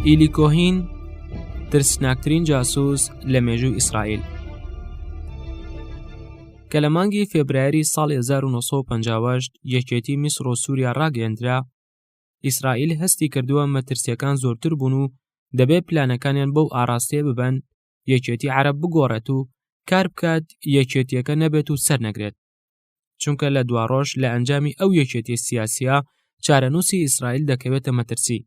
ئیلی کۆهین ترسناکترین جاسوس لە مێژوو ئیسرائیل کە لە مانگی فێبرایری ساڵ 1950 یەکێتی میسر و سووریا ڕاگەندرا ئیسرائیل هەستی کردووە مەترسیەکان زۆرتر بوون و دەبێ پلانەکانیان بەو ئاراستەیە ببن یەکێتی عرب بگۆڕێت و کار بکات یەکێتیەکە نەبێت و سەر نەگرێت چونکە لە دواڕۆژ لە ئەنجامی ئەو یەکێتی سیاسیە چارەنووسی ئیسرائیل دەکەوێتە مەترسی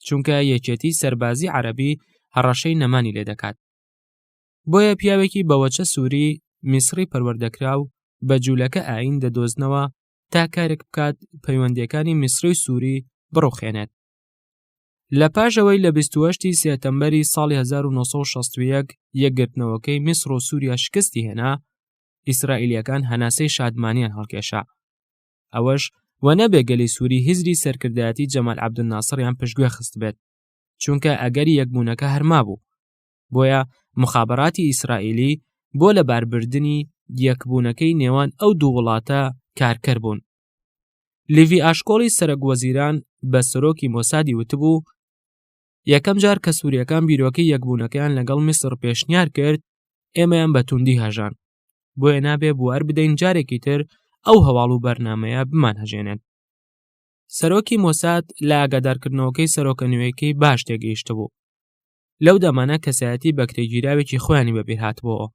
چونکە یەکێتی سەربازی عەربی هەڕەشەی نەمانی لێ دەکات بۆیە پیاوێکی بەوەچە سووری میسری پەروەردەکرا و بە جوولەکە ئاین دەدۆزنەوە تا کارێک بکات پەیوەندەکانی میسری و سووری بڕوخێنێت لە پاشەوەی لە 28 سێتەمبەری ساڵی 1960 یەکگرتنەوەکەی میسر و سووریا شکستی هێنا ئیسرائیلیەکان هەناسەی شادمانیان هەڵکێشا ئەوەش و نەبێ گەلی سووری هزری سەرکردایەتی جەمال عبدناسڕیان پشتگوێ خست بێت چونکە ئەگەری یەکبوونەکە هەرما بوو بۆیە مخابراتی ئیسرائیلی بۆ لە باربردنی یەکبوونەکەی نێوان ئەو دوو وڵاتە کارکەر بوون لیڤی ئاشکۆڵی سەرەک وەزیران بە سەرۆکی مۆسادی وتبوو یەکەم جار کە سووریەکان بیرۆکەی یەکبوونەکەیان لەگەڵ میسر پێشنیار کرد ئێمەیان بە توندی هەژان بۆیە نابێ بوار بدەین جارێکی تر ئەو هەواڵ و بەرنمەیە بمان هەژێنێت سەرۆکی مۆساد لە ئاگادارکردنەوەکەی سەرۆکە نوێیەکەی باش تێگەیشت بوو لەو دەمانە کەسایەتی بەکرێگیراوێکی خۆیانی بەبیرهاتبەوە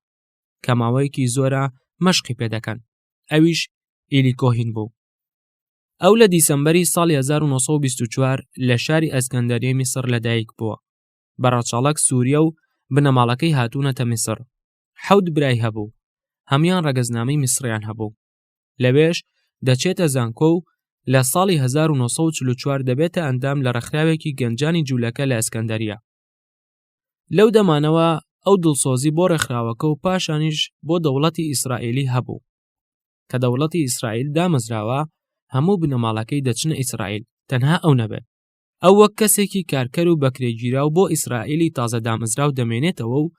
کە ماوەیەکی زۆرە مەشقی پێ دەکەن ئەویش ئیلیکۆهین بوو ئەو لە دیسەمبەری ساڵی 1924 لە شاری ئەسکەندەریە میسر لەدایک بووە بە ڕەچەڵەک سووریە و بنەماڵەکەی هاتوونەتە میسر حەوت برای هەبوو هەمان ڕەگەزنامەی میسریان هەبوو لەوێش دەچێتە زانکۆ و لە ساڵی 1940 دەبێتە ئەندام لە ڕێکخراوێکی گەنجانی جوولەکە لە ئەسکەندەریە لەو دەمانەوە ئەو دڵسۆزی بۆ ڕێکخراوەکە و پاشانیش بۆ دەوڵەتی ئیسرائیلی هەبوو کە دەوڵەتی ئیسرائیل دامەزراوە هەموو بنەماڵەکەی دەچنە ئیسرائیل تەنها ئەو نەبێت ئەو وەک کەسێکی کارکەر و بەکرێگیراو بۆ ئیسرائیلی تازە دامەزراو دەمێنێتەوە و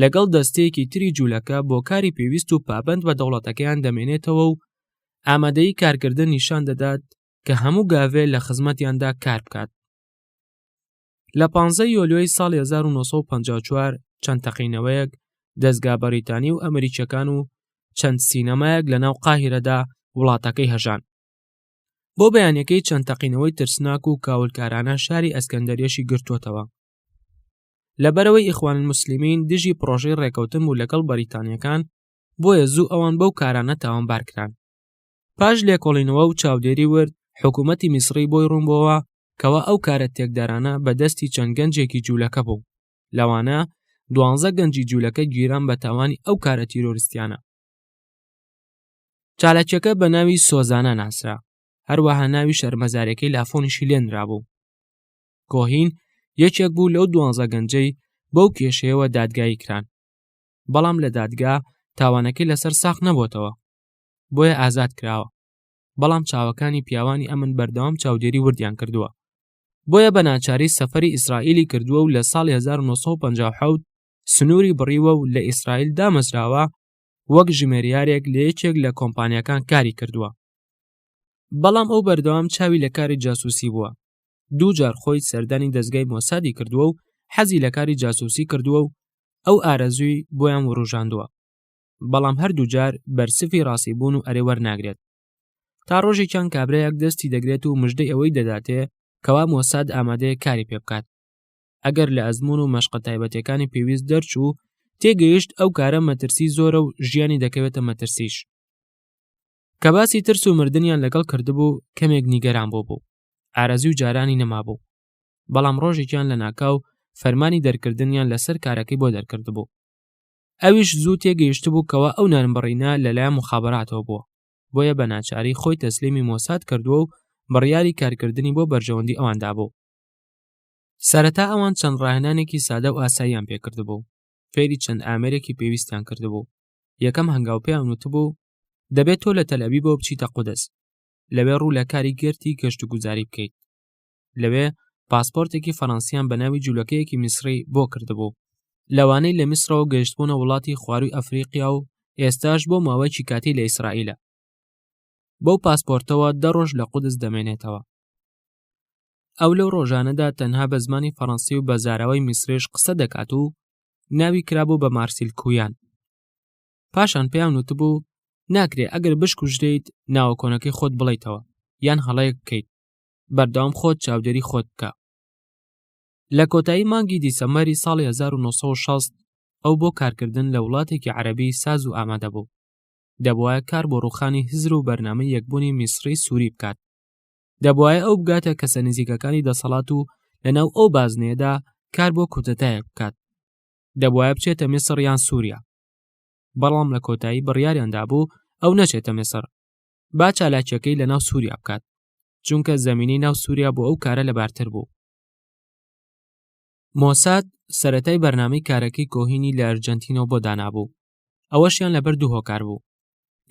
لەگەڵ دەستەیەکی تری جوولەکە بۆ کاری پێویست و پابند بە دەوڵەتەکەیان دەمێنێتەوە و ئامادەی کارکردن نیشان دەدات کە هەموو گاڤێ لە خزمەتیاندا کار بکات لە 15 یۆلیۆی ساڵی 1954 چەند تەقینەوەیەک دەستگا بەریتانی و ئەمریکیەکان و چەند سینەمایەک لە ناو قاهرەدا وڵاتەکەی هەژان بۆ بەیانەکەی چەند تەقینەوەی ترسناک و کاولکارانە شاری ئەسکەندەرێشی گرتوتەوە لەبەرەوەی ئیخوان مسللمین دژی پرۆژەی ڕێکەوتن بوو لەگەڵ بەریتانیەکان بۆیە زوو ئەوان بەو کارانە تاوانبارکران پاش لێکۆڵینەوە و چاودێری ورد حکوومەتی میسڕی بۆی ڕوونبەوە کەوا ئەو کارە تێکدارانە بەدەستی چەند گەنجێکی جوولەکە بوو لەوانە دوانزە گەنجی جوولەکە گیران بە تاوانی ئەو کارە تیرۆرستیانە چالاکیەکە بە ناوی سۆزانە ناسرا هەروەها ناوی شەرمەزارەکەی لافۆنیشی لێنرا بوو کۆهین یەکێک بوو لەو دوانزە گەنجەی بەو کێشەیەوە دادگایی کران بەڵام لە دادگا تاوانەکەی لەسەر ساخ نەبووتەوە بۆیە ئازاد کراوە بەڵام چاوەکانی پیاوانی ئەمن بەردەوام چاودێری وردیان کردووە بۆیە بە ناچاری سەفری ئیسرائیلی کردووە و لە ساڵی 1950 سنووری بڕیوە و لە ئیسرائیل دامەزراوە وەک ژمێریارێک لە یەکێک لە کۆمپانیەکان کاری کردووە بەڵام ئەو بەردەوام چاوی لە کاری جاسوسی بووە دوو جار خۆی سەردانی دەستگای مۆسادی کردووە و حەزی لە کاری جاسوسی کردووە و ئەو ئارەزووی بۆیان وروژاندووە بەڵام هەردوو جار بەرسفی ڕاستی بوون و ئەرێ وەرناگرێت تا ڕۆژێکیان کابرایەک دەستی دەگرێت و مژدەی ئەوەی دەداتێ کەوا مۆساد ئامادەیە کاری پێ بکات ئەگەر لە ئەزمون و مەشقە تایبەتەکانی پێویست دەرچوو تێگەیشت ئەو کارە مەترسی زۆرە و ژیانی دەکەوێتە مەترسیش کە باسی ترس و مردیان لەگەڵ کردبوو کەمێک نیگەران بۆ بوو ئارەزی و جارانی نەمابوو بەڵام ڕۆژێکیان لە ناکاو فەرمانی دەرکردنیان لەسەر کارەکەی بۆ دەرکردبوو ئەویش زوو تێگەیشتبوو کەوا ئەو نانبڕینە لەلایەن مخابراتەوە بووە بۆیە بە ناچاری خۆی تەسلیمی مۆساد کردووە و بڕیاری کارکردنی بۆ بەرژەوەندی ئەوان دابوو سەرەتا ئەوان چەند ڕاهێنانێکی سادە و ئاساییان پێکردبوو فێری چەند ئامێرێکی پێویستیان کردبوو یەکەم هەنگاو پێیان وتبوو دەبێت تۆ لە تەلەبی بۆ بچیتە قودس لەوێ ڕوو لە کاری گرتی گەشت و گوزاری بکەیت لەوێ پاسپۆرتێکی فەڕەنسیان بە ناوی جوولەکەیەکی میسری بۆ کردبوو لەوانەی لە میسرەوە گەشتبوونە وڵاتی خواروی ئەفریقیا و ئێستاش بۆ ماوەیەکی کاتی لە ئیسرائیلە بەو پاسپۆرتەوە دە ڕۆژ لە قودس دەمێنێتەوە ئەو لەو ڕۆژانەدا تەنها بە زمانی فەڕەنسی و بە زاراوەی میسرێش قسە دەکات و ناوی کرابوو بە مارسیل کویان پاشان پێیان وتبوو ناکرێ ئەگەر بشکوژرێیت ناوە کۆنەکەی خۆت بڵیتەوە یان هەڵەیەک بکەیت بەردەوام خۆت چاودێری خۆت بکە لە کۆتایی مانگی دیسەمەری ساڵی 1960 ئەو بۆ کارکردن لە وڵاتێکی عەربی ساز و ئامادە بوو دەبواە کار بۆ ڕوخانی هزر و بەرنامەی یەکبوونی میسری سووری بکات دەبواە ئەو بگاتە کەسە نزیکەکانی دەسەڵات و لەناو ئەو بازنێدا کار بۆ کوتەتایەک بکات دەبواە بچێتە میسر یان سووریا بەڵام لە کۆتایی بڕیاریاندا بوو ئەو نەچێتە میسر با چالاکیەکەی لە ناو سووریا بکات چونکە زمینی ناو سووریا بۆ ئەو کارە لەبارتر بوو مۆساد سەتای بەرنامەی کارەکەی کۆهینی لە ئەرجەنتینەوە بۆ دانابوو ئەوەشیان لەبەر دوو هۆکار بوو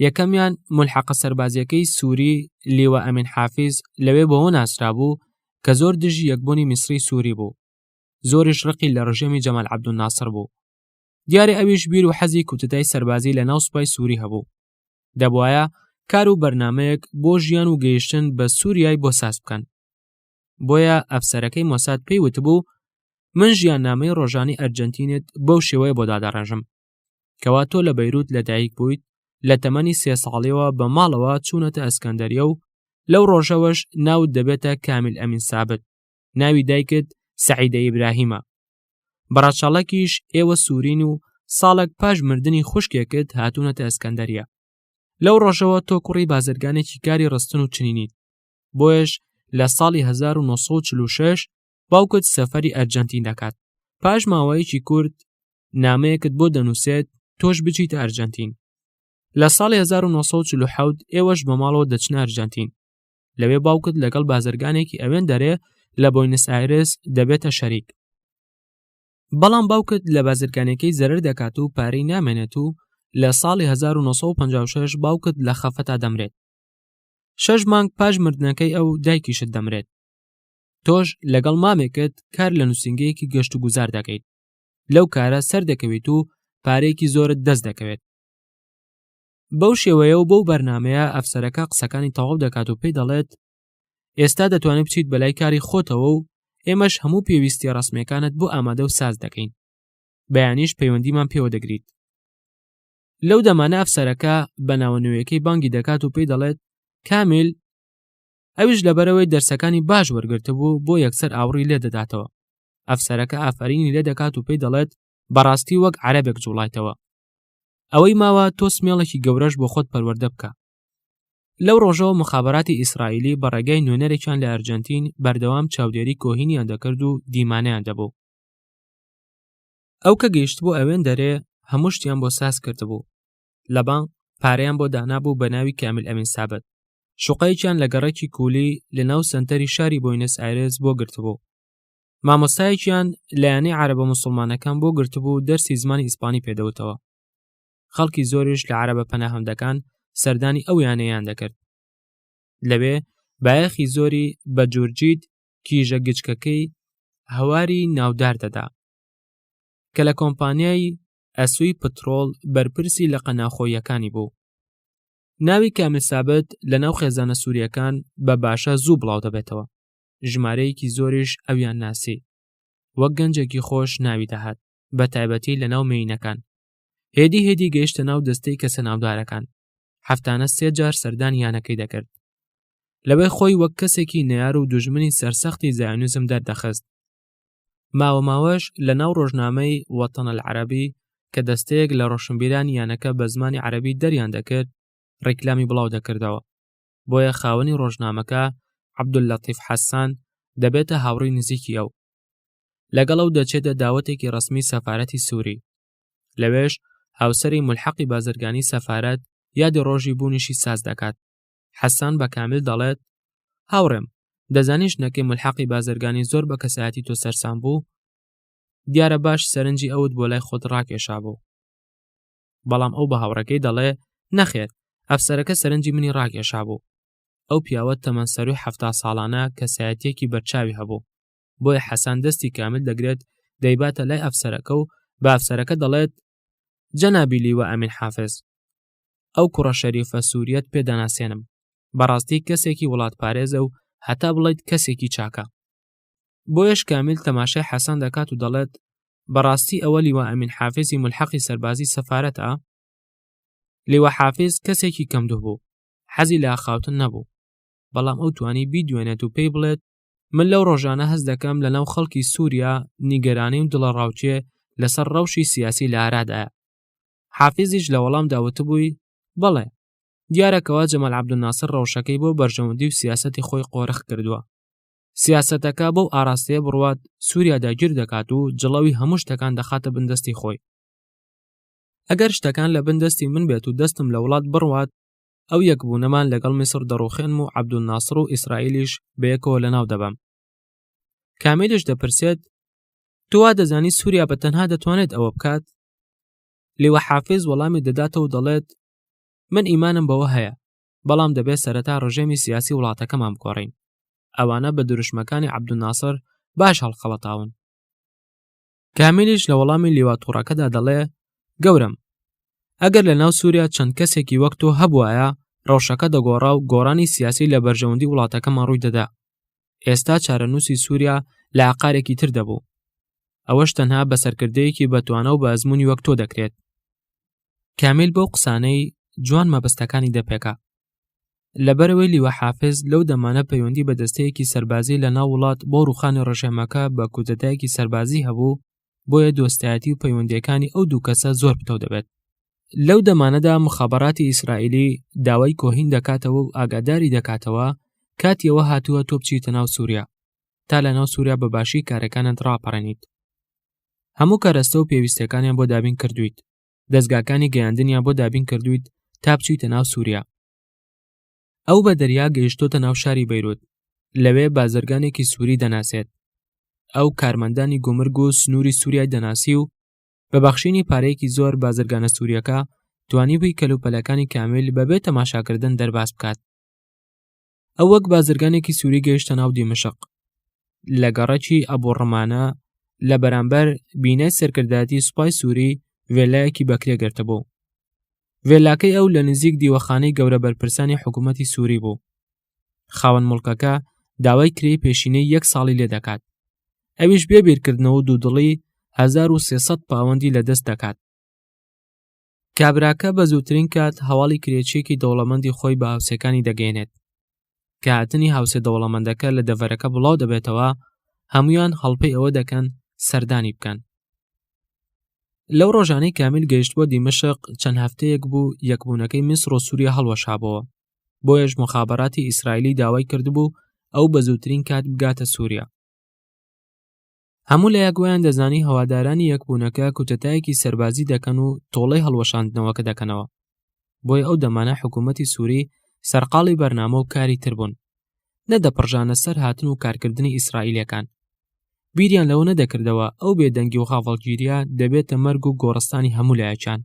یەکەمیان ملحقە سەربازیەکەی سووری لیوە ئەمین حافیز لەوێ بەوە ناسرا بوو کە زۆر دژی یەکبوونی میسری سووری بوو زۆریش ڕقی لە ڕژێمی جەمال عبدون ناسر بوو دیارە ئەویش بیر و حەزی کوتتای سەربازی لە ناو سوپای سووری هەبوو دەبواە کار و بەرنمەیەک بۆ ژیان و گەیشتن بە سووریای بۆ ساز بکەن بۆیە ئەفسەرەکەی مۆساد پێی وتبوو من ژیان نامەی ڕۆژانی ئەرجنتینت بەو شێوەیە بۆ دادەڕێژم کەوا تۆ لە بەیروت لەدایک بوویت لە تەمەنی سێ ساڵیەوە بە ماڵەوە چوونەتە ئەسکەندەریە و لەو ڕۆژەوەش ناوت دەبێتە کامیل ئەمین سابت ناوی دایکت سعیدە ئیبراهیمە بەڕەچەڵەکیش ئێوە سوورین و ساڵک پاش مردنی خوشکێکت هاتوونەتە ئەسکەندەریە لەو ڕۆژەوە تۆ کوڕی بازرگانێکی کاری ڕستن و چنینیت بۆیش لە ساڵی 1946 باوکت سەفەری ئەرجەنتین دەکات پاش ماوەیەکی کورد نامەیەکت بۆ دەنووسێت تۆش بچیتە ئەرجەنتین لە ساڵی 1940 ئێوەش بە ماڵەوە دەچنە ئەرجەنتین لەوێ باوکت لەگەڵ بازرگانێکی ئەوێن دەرێ لە بۆینس ئایرس دەبێتە شەریک بەڵام باوکت لە بازرگانەکەی زەرر دەکات و پارەی نامێنێت و لە ساڵی 1956 باوکت لە خەفەتا دەمرێت شەش مانگ پاش مردنەکەی ئەو دایکیشت دەمرێت تۆش لەگەڵ مامێکت کار لە نووسنگەیەکی گەشت و گوزار دەکەیت لەو کارە سەر دەکەویت و پارێکی زۆرت دەست دەکەوێت بەو شێوەیە و بەو بەرنمەیە ئەفسەرەکە قسەکانی تەواو دەکات و پێی دەڵێت ئێستا دەتوانێت بچیت بەلای کاری خۆتەوە و ئێمەش هەموو پێویستی ڕسمەکانت بۆ ئامادە و ساز دەکەین بەیانیش پەیوەندیمان پێوە دەگریت لەو دەمانە ئەفسەرەکە بە ناوە نوێیەکەی بانگی دەکات و پێی دەڵێت کامیل ئەویش لەبەرەوەی دەرسەکانی باش وەرگرتبوو بۆ یەکسەر ئاوڕی لێ دەداتەوە ئەفسەرەکە ئافرینی لێ دەکات و پێی دەڵێت بەڕاستی وەک عەرەبێک جوڵایتەوە ئەوەی ماوە تۆ سمێڵێکی گەورەش بۆ خۆت پەروەردە بکە لەو ڕۆژەوە مخابراتی ئیسرائیلی بە ڕێگای نوێنەرێکیان لە ئەرجەنتین بەردەوام چاودێری کۆهینیان دەکرد و دیمانیان دەبوو ئەو کە گەیشت بۆ ئەوێن دەرێ هەموو شتیان بۆ ساز کردبوو لە بانک پارەیان بۆ دانابوو بە ناوی کامیل ئەمین سابت شوقەیەکیان لە گەڕێکی کولی لە ناو سنتەری شاری بۆینس ئایرس بۆ گرتبوو مامۆستایەکیان لە یانەی عربە مسلمانەکان بۆ گرتبوو و دەرسی زمانی ئیسپانی پێدەوتەوە خەڵکی زۆریش لە عربە پەناهەندەکان سەردانی ئەو یانەیان دەکرد لەوێ بایەخی زۆری بە جورجیت کیژە گچکەکەی هەواری ناودار دەدا کە لە کۆمپانیای ئەسوی پترۆڵ بەرپرسی لە قەناخۆیەکانی بوو ناوی کامل سابت لە ناو خێزانە سووریەکان بە باشە زوو بڵاو دەبێتەوە ژمارەیەکی زۆریش ئەویان ناسی وەک گەنجێکی خۆش ناوی دەهات بە تایبەتی لە ناو مێینەکان هێدی هێدی گەیشتە ناو دەستەی کەسە ناودارەکان هەفتانە سێ جار سەردان یانەکەی دەکرد لەوەی خۆی وەک کەسێکی نەار و دوژمنی سەرسەختی زایونزم دەردەخست ماوە ماوەش لە ناو ڕۆژنامەی وەتەنە عەربی کە دەستەیەک لە ڕۆشنبیران یانەکە بە زمانی عەربی دەریان دەکرد ڕیکلامی بڵاو دەکردەوە بۆیە خاوەنی ڕۆژنامەکە عەبدوللەتیف حەسان دەبێتە هاوڕی نزیکی ئەو لەگەڵ ئەو دەچێتە داوەتێکی ڕسمی سەفاەتی سووری لەوێش هاوسری ملحەقی بازرگانی سەفاەت یادی ڕۆژی بوونیشی ساز دەکات حەسان بە کامل دەڵێت هاوڕێم دەزانیش نەکەی ملحەقی بازرگانی زۆر بە کەسایەتی تۆ سەرسان بوو دیارە باش سەرنجی ئەوت بۆ لای خۆت ڕاکێشا بوو بەڵام ئەو بە هاوڕەکەی دەڵێ نەخێر ئەفسەرەکە سەرنجی منی ڕاکێشا بوو ئەو پیاوە تەمەەن سەروی هەفتا ساڵانە کەسایەتێکی بەرچاوی هەبوو بۆیە حەسان دەستی کامل دەگرێت دەیباتە لای ئەفسەرەکە و بە ئەفسەرەکە دەڵێت جەنابی لیوە ئەمین حافز ئەو کوڕە شەریفە سووریەت پێداناسێنم بەڕاستی کەسێکی وڵات پارێزە و هەتا بڵیت کەسێکی چاکە بۆیەش کامیل تەماشای حەسەن دەکات و دەڵێت بەڕاستی ئەوە لیوە ئەمین حافزی ملحەقی سەربازی سەفاەتە لیوە حافز کەسێکی کەمدوو بوو حەزی لا خاوتن نەبوو بەڵام ئەو توانی بیدوێنێت و پێی بڵێت من لەو ڕۆژانە هەز دەکەم لە ناو خەڵکی سووریا نیگەرانی و دڵە ڕاوچێ لەسەر ڕەوشی سیاسی لە ئارادایە حافزیش لە وەڵام داوتبووی بەڵێ دیارەکەەوە جەمەل عبدناسر ڕەوشەکەی بۆ بەرژەوەندی و سیاستی خۆی قۆرخ کردووە سیاسەتەکە بەو ئاراستەیە بڕوات سووریا داگیر دەکات و جڵەوی هەموو شتەکان دەخاتە بندەستی خۆی ئەگەر شتەکان لە بندەستی من بێت و دەستم لە وڵات بڕوات ئەو یەکبوونەمان لەگەڵ میسر دەڕوخێنم و عبدول ناسر و ئیسرائیلیش بەیەکەوە لە ناو دەبەم کامێلیش دەپرسێت توا دەزانی سووریا بە تەنها دەتوانێت ئەوە بکات لێوە حافز وەڵامی دەداتەوە دەڵێت من ئیمانم بەوە هەیە بەڵام دەبێت سەرەتا ڕژێمی سیاسی وڵاتەکەمان بگۆڕین ئەوانە بە دروشمەکانی عبدناسر باش هەڵخەڵەتاون کامیلیش لە وەڵامی لیوا توڕەکەدا دەڵێ گەورم ئەگەر لە ناو سووریا چەند کەسێکی وەک تۆ هەبواە ڕەوشەکە دەگۆڕا و گۆڕانی سیاسی لە بەرژەوەندی وڵاتەکەمان ڕووی دەدا ئێستا چارەنووسی سووریا لە عقارێکی تر دەبوو ئەوەش تەنها بە سەرکردەیەکی بەتوانە و بە ئەزمموی وەک تۆ دەکرێت کامیل بەو قسانەی جوان مەبەستەکانی دەپێکا لەبەرەوەی لیوە حافز لەو دەمانە پەیوەندی بە دەستەیەکی سەربازی لە ناو وڵات بۆ ڕوخانی ڕژێمەکە بە کودەتایەکی سەربازی هەبوو بۆیە دۆستایەتی و پەیوەندیەکانی ئەو دوو کەسە زۆر پتەو دەبێت لەو دەمانەدا مخابراتی ئیسرائیلی داوای کۆهین دەکاتەوە و ئاگاداری دەکاتەوە کاتیەوە هاتووە تۆ بچیتە ناو سووریا تا لە ناو سووریا بە باشی کارەکانت ڕاپەڕێنیت هەموو کارەستە و پێویستەکانیان بۆ دابین کردویت دەستگاکانی گەیاندنیان بۆ دابین کردویت تا بچیتە ناو سووریا ئەو بە دەریا گەیشتۆتە ناو شاری بەیروت لەوێ بازرگانێکی سووری دەناسێت ئەو کارمەندانی گومرگ و سنووری سووریای دەناسی و بە بەخشینی پارەیەکی زۆر بازرگانە سووریەکە توانی بووی کەلوپەلەکانی کامیل بەبێ تەماشاکردن دەرباز بکات ئەو وەک بازرگانێکی سووری گەیشتە ناو دیمەشق لە گەڕەکی ئەبوڕمانە لە بەرامبەر بینای سەرکردایەتی سوپای سووری ڤێلایەکی بەکرێ گرتە بوو ڤێلاکەی ئەو لە نزیک دیوەخانەی گەورە بەرپرسانی حکوومەتی سووری بوو خاوەن مڵکەکە داوای کرێی پێشینەی یەک ساڵی لێ دەکات ئەویش بێ بیرکردنەوە دوودڵی 1300 پاوەندی لە دەست دەکات کابراکە بە زووترین کات هەواڵی کرێچیەکی دەوڵەمەندی خۆی بە هاوسێکانی دەگەێنێت کە هاتنی هاوسێ دەوڵەمەندەکە لە دەڤەرەکە بڵاو دەبێتەوە هەمویان هەڵپەی ئەوە دەکەن سەردانی بکەن لەو ڕۆژانەی کامیل گەیشتووە دیمەشق چەند هەفتەیەک بوو یەکبوونەکەی میسر و سووریا هەڵوەشابەوە بۆیەش مخابراتی ئیسرائیلی داوای کردبوو ئەو بە زووترین کات بگاتە سووریا هەموو لە یاگۆیان دەزانی هەوادارانی یەکبوونەکە کوتەتایەکی سەربازی دەکەن و تۆڵەی هەڵوەشاندنەوەکە دەکەنەوە بۆی ئەو دەمانە حکوومەتی سووری سەرقاڵی بەرنامە و کاری تر بوون نەدەپڕژانە سەر هاتن و کارکردنی ئیسرائیلەکان بیریان لەوە نەدەکردەوە ئەو بێدەنگی و غاڤڵگیریە دەبێتە مەرگ و گۆڕستانی هەموو لایەکان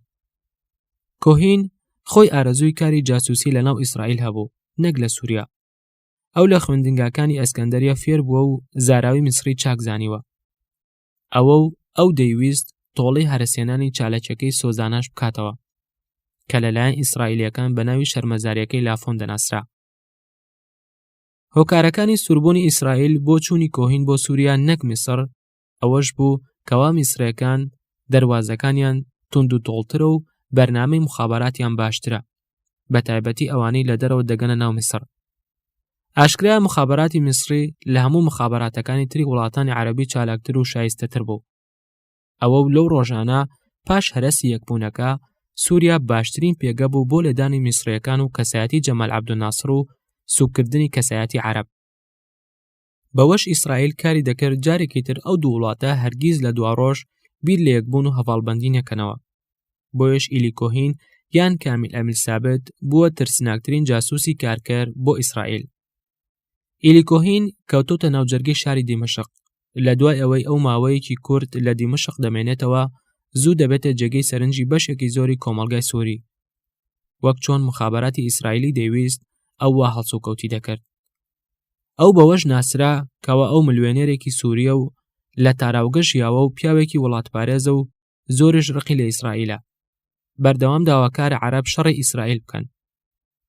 کۆهین خۆی ئارەزووی کاری جاسوسی لەناو ئیسرائیل هەبوو نەک لە سووریا ئەو لە خوێندنگاکانی ئەسکەندەریە فێر بووە و زاراوی میسری چاک زانیوە ئەوە و ئەو دەیویست تۆڵی هەرسێنانی چالەکەکەی سۆزاناش بکاتەوە کە لەلایەن ئیسرائیلەکان بە ناوی شەرمەزارەکەی لافۆن دەناسرا هۆکارەکانی سوربوونی ئیسرائیل بۆ چووی کۆهین بۆ سووریا نەک میسر ئەوەش بوو کەوا میسرەکان دەروازەکانیان تونند و تۆڵترە و بەرنامەی مخاباتیان باشترە بە تایبەتی ئەوانەی لە دەرەوە دەگەنە ناو میسر ئاشکرا مخاباتی میسری لە هەموو مخاباتەکانی تری وڵاتانی عربی چالاکتر و شایستەتر بوو ئەوە و لەو ڕۆژانە پاش هەرەسی یەکبوونەکە سووریا باشترین پێگە بوو بۆ لێدانی میسرەکان و کەسایەتی جەمال عبدناسر و سوکردنی کەسایەتی عرب بەوەش ئیسرائیل کاری دەکرد جارێکی تر ئەو دوو وڵاتە هەرگیز لە دواڕۆژ بیر لە یەکبوون و هەواڵبندی نەکەنەوە بۆیش ئیلی کۆهین یان کامیل ئەمیل سابت بووە ترسناکترین جاسوسی کارکەر بۆ ئیسرائیل ئیلی کۆهین کەوتوتە ناوجەرگی شاری دیمەشق لە دوای ئەوەی ئەو ماوەیەکی کورد لە دیمەشق دەمێنێتەوە زوو دەبێتە جێگەی سەرنجی بەشێکی زۆری کۆمەلگای سووری وەک چۆن مخابراتی ئیسرائیلی دەیویست ئەوە هەڵسوکەوتی دەکرد ئەو بەوەش ناسرا کەوا ئەو ملوێنێرێکی سووریە و لە تاراوگە ژیاوە و پیاوێکی وڵاتپارێزە و زۆرش ڕقی لە ئیسرائیلە بەردەوام داواکارە عرب شەڕی ئیسرائیل بکەن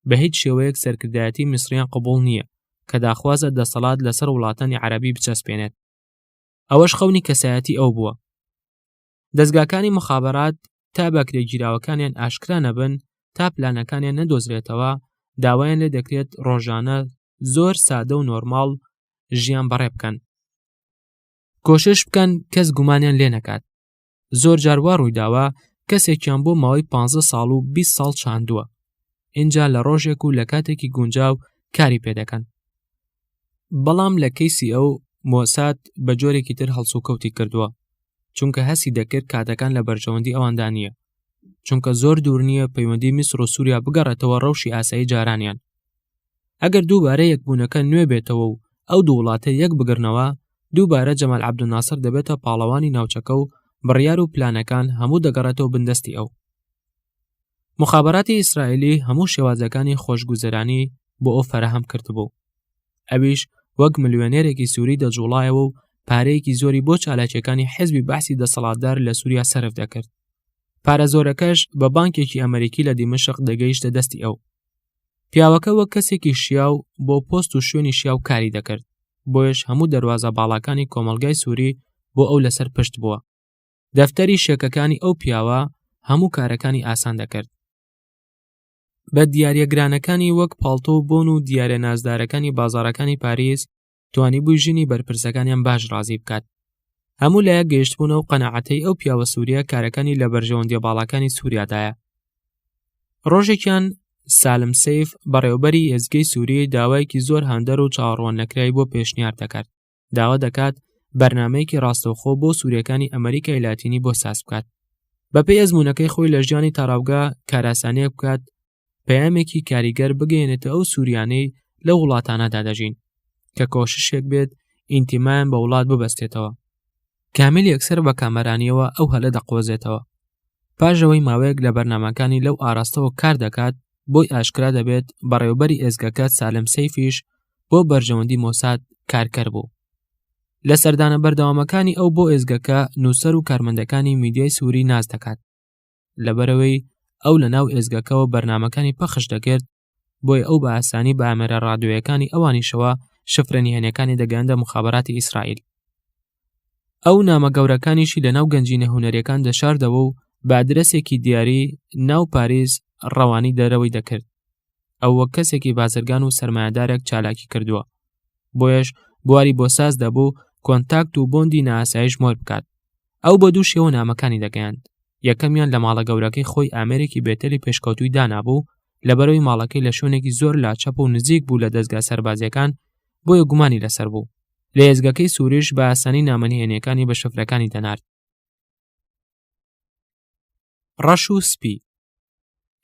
بە هیچ شێوەیەک سەرکردایەتی میسریان قبول نییە کە داخوازە دەسەڵات لەسەر وڵاتانی عربی بچەسپێنێت ئەوەش خەونی کەسایەتی ئەو بووە دەزگاکانی مخابەرات تا بەکرێگیراوەکانیان ئاشکرا نەبن تا پلانەکانیان نەدۆزرێتەوە داوایان لێ دەکرێت ڕۆژانە زۆر سادە و نۆرماڵ ژیان بەڕێ بکەن کۆشش بکەن کەس گومانیان لێ نەکات زۆر جاروا ڕوویداوە کەسێکیان بۆ ماوەی 15 ساڵ و 20 ساڵ چاندووە اینجا لە ڕۆژێک و لە کاتێکی گونجاو کاری پێ دەکەن بەڵام لە کەیسی ئەو مۆساد بە جۆرێکی تر هەڵسوکەوتی کردووە چونکە هەسی دەکرد کاتەکان لە بەرژەوەندی ئەواندا نییە چونکە زۆر دوور نییە پەیوەندی میسر و سووریا بگەڕێتەوە ڕەوشی ئاسایی جارانیان ئەگەر دووبارە یەکبوونەکە نوێ بێتەوە و ئەو دوو وڵاتە یەک بگرنەوە دووبارە جەمال عبدناسر دەبێتە پاڵەوانی ناوچەکە و بڕیار و پلانەکان هەموو دەگەڕێتەوە بندەستی ئەو مخابراتی ئیسرائیلی هەموو شێوازەکانی خۆشگوزەرانی بۆ ئەو فەرەهەم کردبوو ئەویش وەک ملیۆنێرێکی سووری دەجوڵایەوە و پارەیەکی زۆری بۆ چالاکیەکانی حزبی بەعسی دەسەڵاتدار لە سووریا سرف دەکرد پارە زۆرەکەش بە بانکێکی ئەمریکی لە دیمەشق دەگەیشتە دەستی ئەو پیاوەکە وەک کەسێکی شیاو بۆ پۆست و شوێنی شیاو کاری دەکرد بۆیش هەموو دەواازە باڵاکانی کۆمەلگای سووری بۆ ئەو لەسەر پشت بووە دەفتەری شێکەکانی ئەو پیاوە هەموو کارەکانی ئاسان دەکرد بە دیارە گرانەکانی وەک پاڵتۆ و بۆن و دیارە نازدارەکانی بازارەکانی پاریس توانی بووی ژنی بەرپرسەکانیان باش ڕازی بکات هەموو لایە گەیشتبوون و قەنەعەتەی ئەو پیاوە سووریا کارەکانی لە بەرژەوەندی باڵاکانی سووریادایە ڕۆژێکیان سالم سیف بەڕێوبەری ئێزگەی سووری داوایەکی زۆر هاندەر و چاوەڕوان نەکرای بۆ پێشنیار دەکات داوا دەکات بەرنمەیەکی ڕاستەوخۆ بۆ سوورەکانی ئەمریکای لاتینی بۆ ساز بکات بەپی ئەزمونونەکەی خۆی لە ژیانی تاراوگا کاراسانەیە بکات پەیامێکی کاریگەر بگەێنێتە ئەو سووریانەی لە وڵاتانەدا دەژین کە کۆششێک بێت ئینتیمایان بە وڵات ببەستێتەوە کامیل یەکسەر بە کامەرانیەوە ئەو هەلە دەقۆزێتەوە پاش ئەوەی ماوەیەک لە بەرنمەکانی لەو ئاراستەوە کار دەکات بۆی ئاشکرا دەبێت بەڕێوبەری ئێزگەکە سالم سەیفیش بۆ بەرژەوەندی مۆساد کارکەر بوو لە سەردانە بەردەوامەکانی ئەو بۆ ئێزگەکە نووسەر و کارمەندەکانی میدیای سووری ناز دەکات لەبەرەوەی ئەو لە ناو ئێزگەکەەوە بەرنمەکانی پەخش دەکرد بۆیە ئەو بە ئاسانی بە ئامێرە ڕادوێیەکانی ئەوانیشەوە شفرە نهێنەکانی دەگەندە مخابراتی ئیسرائیل ئەو نامە گەورەکانیشی لەناو گەنجینە هوەرەکان دەشاردەوە و بادرسێکی دیاری ناو پاریس ڕەوانی دەرەوەی دەکرد ئەو وەک کەسێکی بازرگان و سرمایهدارێک چالاکی کردووە بۆیەش بواری بۆ ساز دەبوو کۆنتاکت و بۆندی ناسایش مۆر بکات ئەو بە دوو شێوە نامەکانی دەگەیاند یەکەمیان لە ماڵە گەورەکەی خۆی ئامێرێکی بێتەلی پێشکەوتوی دانابوو لە بەرەوەی ماڵەکەی لە شوێنێکی زۆر لا چەپ و نزیک بوو لە دەستگا سەربازیەکان بۆیە گومانی لەسەر بوو لە ئێزگەکەی سوورش بە ئاسانی نامەنهێنەکانی بە شفرەکانی دەنارد ڕەش و سپی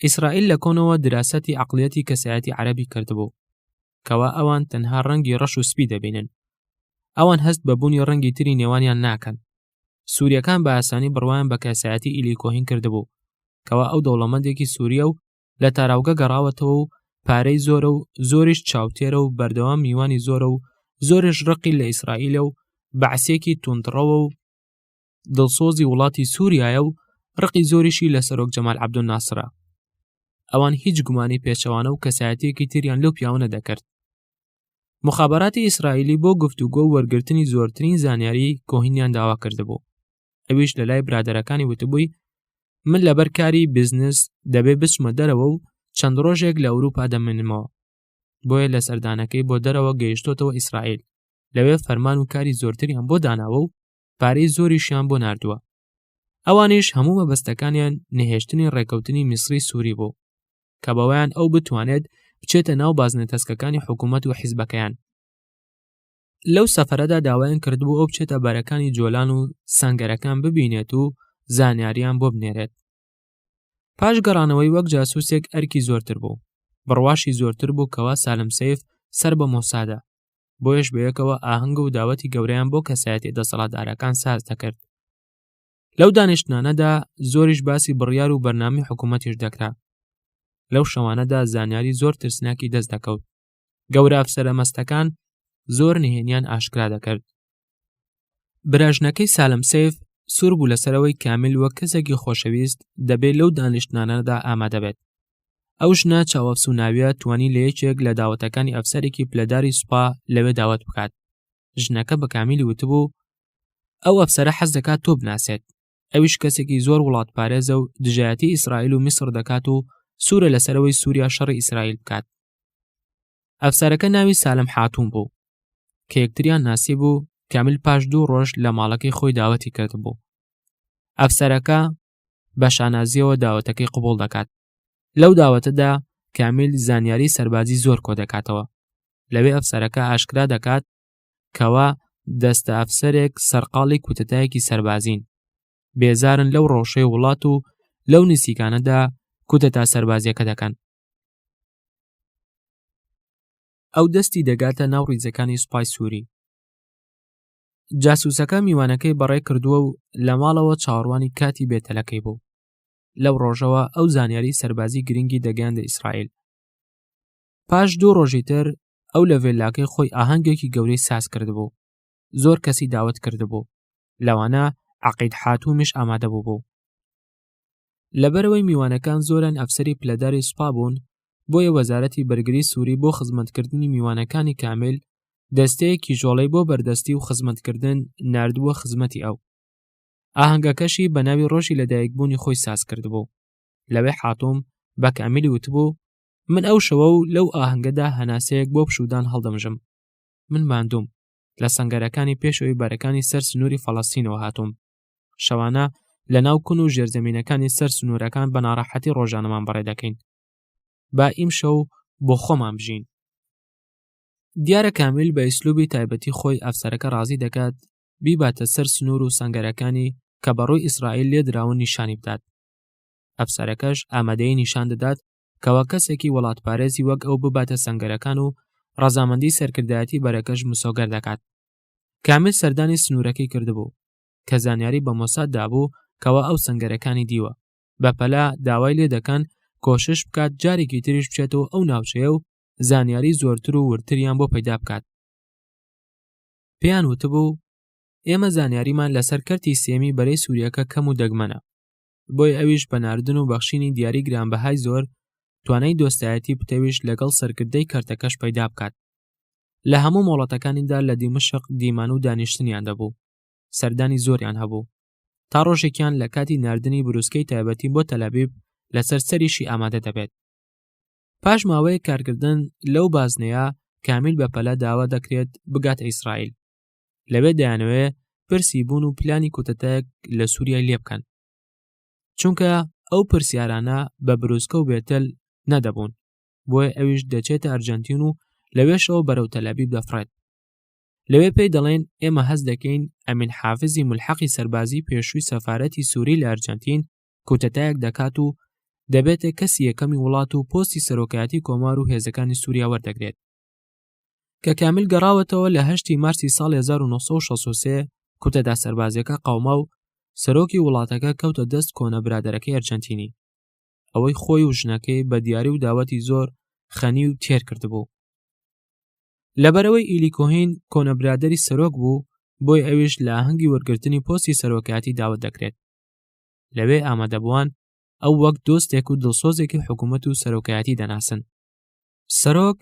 ئیسرائیل لە کۆنەوە دراسەتی عقلیەتی کەسایەتی عەربی کردبوو کەوا ئەوان تەنها ڕەنگی ڕەش و سپی دەبینن ئەوان هەست بە بوونی ڕەنگی تری نێوانیان ناکەن سووریەکان بە ئاسانی بڕوایان بە کەسایەتی ئیلیکۆهین کردبوو کەوا ئەو دەوڵەمەندێکی سووریە و لە تاراوگە گەڕاوەتەوە و پارەی زۆرە و زۆریش چاوتێرە و بەردەوام میوانی زۆرە و زۆرش ڕقی لە ئیسرائیلە و بەعسێکی توندڕەوە و دڵسۆزی وڵاتی سووریایە و ڕقی زۆریشی لە سەرۆک جەمال عبدول ناسرە ئەوان هیچ گومانی پێچەوانە و کەسایەتێکی تریان لەو پیاونە دەکرد مخابراتی ئیسرائیلی بۆ گفتوگۆ وەرگرتنی زۆرترین زانیاری کۆهینیان داوا کردبوو ئەویش لە لای برادەرەکانی وتبووی من لەبەر کاری بزنس دەبێ بچمە دەرەوە و چەند ڕۆژێک لە ئەوروپا دەمێنمەوە بۆیە لە سەردانەکەی بۆ دەرەوە گەیشتۆتەوە ئیسرائیل لەوێ فەرمان و کاری زۆرتریان بۆ داناوە و پارەی زۆریشیان بۆ نردووە ئەوانیش هەموو مەبەستەکانیان نەهێشتنی ڕێکەوتنی میسری سووری بوو کە بەوەیان ئەو بتوانێت بچێتە ناو بازنە تەسکەکانی حکوومەت و حیزبەکەیان لەو سەفرەدا داوایان کردبوو ئەو بچێتە بەرەکانی جۆلان و سنگەرەکان ببینێت و زانیاریان بۆ بنێرێت پاش گەڕانەوەی وەک جاسوسێک ئەرکی زۆرتر بوو بڕواشی زۆرتر بوو کەوا سالم سیف سەر بە مۆسادە بۆیش بەیەکەوە ئاهنگ و داوەتی گەوریان بۆ کەسایەتی دەسەڵاتدارەکان ساز دەکرد لەو دانیشتنانەدا زۆریش باسی بڕیار و بەرنامی حکوومەتیش دەکرا لەو شەوانەدا زانیاری زۆر ترسناکی دەست دەکەوت گەورە ئەفسەرە مەستەکان زۆر نهێنیان ئاشکرا دەکرد براژنەکەی سالم سیف سوور بوو لەسەرەوەی کامل وە کەسێکی خۆشەویست دەبێت لەو دانیشتنانەدا ئامادەبێت ئەو ژنە چاوەفسوناویە توانی لە یەکێک لە داوەتەکانی ئەفسەرێکی پلەداری سوپا لەوێ داوت بکات ژنەکە بە کامیلی وتبوو ئەو ئەفسرە حەز دەکات تۆ بناسێت ئەویش کەسێکی زۆر وڵات پارێزە و دژایەتی ئیسرائیل و میسر دەکات و سوورە لەسەرەوەی سووریا شەڕی ئیسرائیل بکات ئەفسارەکە ناوی سالم حاتون بوو کە یەکتریان ناسی بوو کامل پاش دوو ڕۆژ لە ماڵەکەی خۆی داوەتی کرد بوو ئەفسەرەکە بە شانازیەوە داوەتەکەی قوبول دەکات لەو داوەتەدا کامیل زانیاری سەربازی زۆر کۆ دەکاتەوە لەوێ ئەفسەرەکە ئاشکرا دەکات کەوا دەستە ئەفسەرێک سەرقاڵی کوتەتایەکی سەربازین بێزارن لەو ڕەوشەی وڵات و لەو نسیکانەدا کوتە تا سەربازیەکە دەکەن ئەو دەستی دەگاتە ناو ڕیزەکانی سوپای سووری جاسوسەکە میوانەکەی بەڕێ کردووە و لە ماڵەوە چاڕوانی کاتی بێتەلەکەی بوو لەو ڕۆژەوە ئەو زانیاری سەربازی گرنگی دەگەیاندە ئیسرائیل پاش دوو ڕۆژی تر ئەو لە ڤێلاکەی خۆی ئاهەنگێکی گەورەی ساز کردبوو زۆر کەسی داوت کردبوو لەوانە عقید حاتومیش ئامادە بوو بوو لەبەرەوەی میوانەکان زۆران ئەفسری پلەداری سوپا بوون بۆیە وەزارەتی بەرگری سووری بۆ خزمەتکردنی میوانەکانی کامیل دەستەیەکی ژۆڵەی بۆ بەردەستی و خزمەتکردن نردووە خزمەتی ئەو ئاهەنگەکەشی بە ناوی ڕۆژی لەدایکبوونی خۆی ساز کردبوو لەوێ حاتوم بە کامیلی وتبوو من ئەو شەوە و لەو ئاهەنگەدا هەناسەیەک بۆ پشودان هەڵدەمژم من ماندوم لە سنگەرەکانی پێشەوەی بەرەکانی سەر سنووری فەڵەستینەوە هاتووم شەوانە لە ناو کون و ژێرزەمینەکانی سەر سنوورەکان بە ناڕەحەتی ڕۆژانەمان بەڕێ دەکەین با ئیم شەو بۆ خۆمان بژین دیارە کامیل بە ئیسلوبی تایبەتی خۆی ئەفسەرەکە ڕازی دەکات بیباتە سەر سنوور و سنگەرەکانی کە بەڕووی ئیسرائیل لێدراون نیشانی بدات ئەفسەرەکەش ئامادەی نیشان دەدات کەوا کەسێکی وڵاتپارێزی وەک ئەو بباتە سنگەرەکان و ڕەزامەندی سەرکردایەتی بەرەکەش مسۆگەر دەکات کامیل سەردانی سنوورەکەی کردبوو کە زانیاری بە مۆساد دابوو کەوا ئەو سنگەرەکانی دیوە بەپەلا داوای لێ دەکەن کۆشش بکات جارێکی تریش بچێتەوە ئەو ناوچەیە و زانیاری زۆرتر و ورتریان بۆ پەیدا بکات پێیان وتبوو ئێمە زانیاریمان لەسەر کەرتی سێمی بەرەی سووریەکە کەم و دەگمەنە بۆی ئەویش بە ناردن و بەخشینی دیاری گرانبەهای زۆر توانای دۆستایەتی پتەویش لەگەڵ سەرکردەی کەرتەکەش پەیدا بکات لە هەموو مۆڵەتەکانیدا لە دیمەشق دیمان و دانیشتنیان دەبوو سەردانی زۆریان هەبوو تا ڕۆژێکیان لە کاتی نردنی بروسکەی تایبەتی بۆ تەلەبیب لەسەر سەریشی ئامادە دەبێت پاش ماوەیە کارکردن لەو بازنەیە کامیل بە پەلە داوا دەکرێت بگات ئیسرائیل لەوێ دەیانەوێ پرسی بوون و پلانی کۆتەتەک لە سووریای لێ بکەن چونکە ئەو پرسیارانە بە برۆسکە و بێتەل نەدەبوون بۆیە ئەویش دەچێتە ئەرجەنتین و لەوێشەوە بەرەو تەلەبیب دەفڕێت لەوێ پێی دەڵێن ئێمە هەز دەکەین ئەمین حافزی ملحەقی سەربازی پێشووی سەفاەتی سووری لە ئەرجەنتین کوتەتایەک دەکات و دەبێتە کەسی یەکەمی وڵات و پۆستی سەرۆکایەتی کۆمار و هێزەکانی سووریا وەردەگرێت کە کامل گەڕاوەتەوە لە هەشتی مارسی ساڵ 1963 کوتەدا سەربازیەکە قاوما و سەرۆکی وڵاتەکە کەوتە دەست کۆنە برادەرەکەی ئەرجەنتینی ئەوەی خۆی و ژنەکەی بە دیاری و داوەتی زۆر خەنی و تێر کردبوو لەبەرەوەی ئیلیکۆهین کۆنە برادری سەرۆک بوو بۆی ئەویش لە هەنگی وەرگرتنی پۆستی سەرۆکاتی داوت دەکرێت لەوێ ئامادەبووان ئەو وەک دۆستێک و دڵسۆزێکی حکوومەت و سەرۆکایەتی دەناسن سەرۆک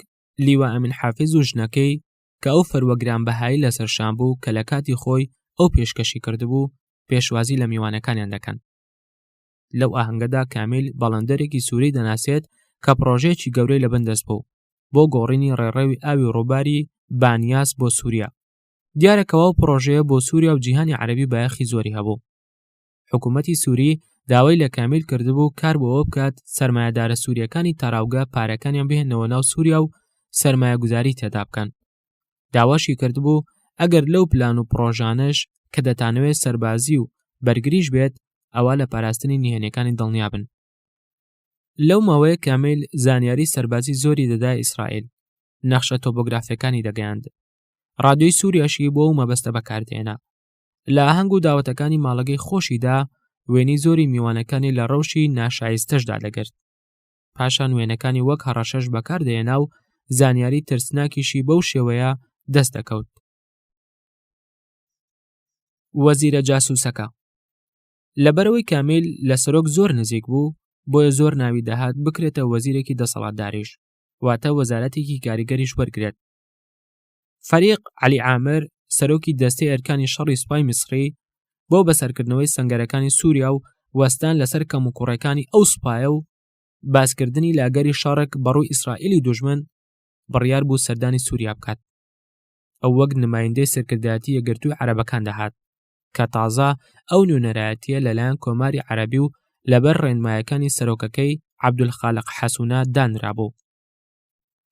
لیوا ئەمین حافز و ژنەکەی کە ئەو فەروە گرانبەهایی لەسەر شان بوو کە لە کاتی خۆی ئەو پێشکەشی کردبوو پێشوازی لە میوانەکانیان دەکەن لەو ئاهنگەدا کامیل بەڵندەرێکی سووری دەناسێت کە پرۆژەیەکی گەورەی لە بندەست بوو بۆ گۆڕینی ڕێڕەوی ئاوی ڕووباری بانیاس بۆ سووریا دیارەکەەوە پرۆژەیە بۆ سووریا و جیهانی عەربی بایەخی زۆری هەبوو حکوومەتی سووری داوای لە کامیل کردبوو کار بۆەوە بکات سرمایهدارە سووریەکانی تاراوگە پارەکانیان بهێنەوە ناو سووریا و سرمایە گوزاری تێدا بکەن داواشی کردبوو ئەگەر لەو پلان و پرۆژانش کە دەتانەوێت سەربازی و بەرگریش بێت ئەوە لە پاراستنی نهێنەکانی دڵنیابن لەو ماوەیە کامیل زانیاری سەربازی زۆری دەدا ئیسرائیل نەخشە تۆبۆگرافەکانی دەگەیاند ڕادیۆی سووریاشی بۆ و مەبەستە بەکاردێنا لە ئاهەنگ و داوەتەکانی ماڵەگەی خۆشیدا وێنی زۆری میوانەکانی لە ڕەوشی ناشایستەشدا دەگرت پاشان وێنەکانی وەک هەڕەشەش بەکاردێنا و زانیاری ترسناکیشی بەو شێوەیە دەست دەکەوت وەزیرە جاسوسەکە لەبەرەوەی کامیل لە سەرۆک زۆر نزیک بوو بۆیە زۆر ناوی دەهات بکرێتە وەزیرێکی دەسەڵاتداریش واتە وەزارەتێکی کاریگەریش وەرگێت فەریق علی عامر سەرۆکی دەستەی ئەرکانی شەڕی سوپای میسری بۆ بەسەرکردنەوەی سنگەرەکانی سووریا و وەستان لەسەر کەم و کوڕەکانی ئەو سوپایە و باسکردنی لاگەری شەڕک بەڕووی ئیسرائیلی دوژمن بڕیار بوو سەردانی سووریا بکات ئەو وەک نمایندەی سەرکردایەتی یەگرتووی عەرەبەکان دەهات کە تازە ئەو نوێنەرایەتیە لەلایەن کۆماری عەربی و لەبەر ڕێنمایەکانی سەرۆکەکەی عبدولخالق حەسونا دانرابوو